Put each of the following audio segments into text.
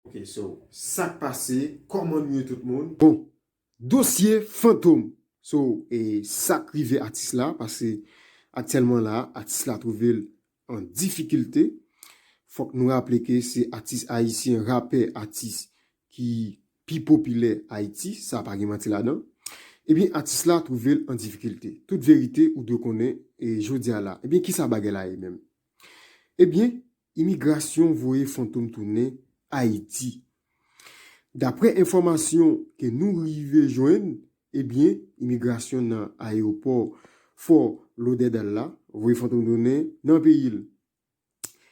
Ok so sak pase koman nou ye tout moun. Bon dosye fantom so e sak rive atis la pase aktyèlman la atis la twouvel an difikilte fòk nou raple ke se atis ayisyen rapè atis ki pi popilè ayiti sa pa gen manti ladan ebyen atis la twouvel an difikilte tout verite ou dwe konnen e jodia la ebyen kisa bagay la ye menm ebyen Imigrasyon voye fantom tounen Ayiti. Daprè enfòmasyon ke nou rive jwenn, ebyen imigrasyon nan ayewopò Fort Lauderdale la voye fantom tounen nan peyi l.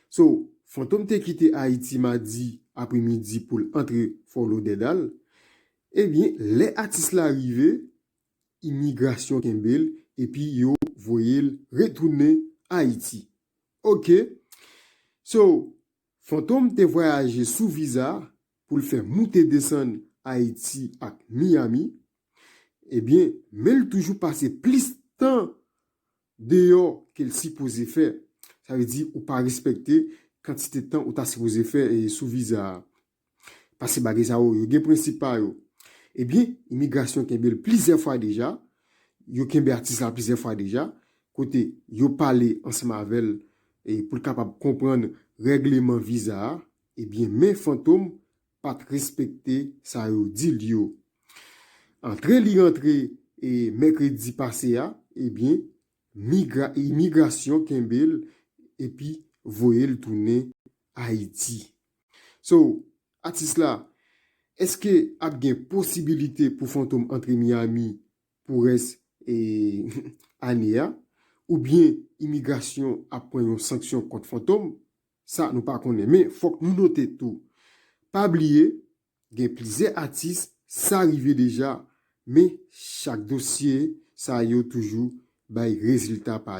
So, fantom te kite Ayiti madi apre midi pou l antre Fort Lauderdale. Ebyen lè atis la rive, imigrasyon kenbe l epi yo voye l retounen Ayiti. Ok So Fantom te vwayaje sou viza pou l fè moute desann Ayiti ak Miyami. Ebyen men l toujou pase plis tan deyò ke l sipoze fè. Sa vle di ou pa respekte kantite tan ou ta sipoze fè sou viza a. Pase bagay sa yo, yo gen prensip pa yo. Ebyen, imigrasyon kenbe l plizyè fwa deja, yo kenbe atis la plizyè fwa deja, kote yo pale ansanm avè l pou l kapab konprann règleman viza a, ebyen men Fantom pa t respekte sa yo di l yo. Antre li rantre mèkredi pase a, ebyen imigrasyon kenbe l epi voye l tounen Ayiti. So atis la eske ap gen posibilite pou fantom antre Miami pou rès ane a oubyen imigrasyon ap pran yon sanksyon kont fantom sa nou pa konnen men fòk nou note tou pa bliye gen plizyè atis sa rive deja men chak dosye sa yo toujou bay rezilta pa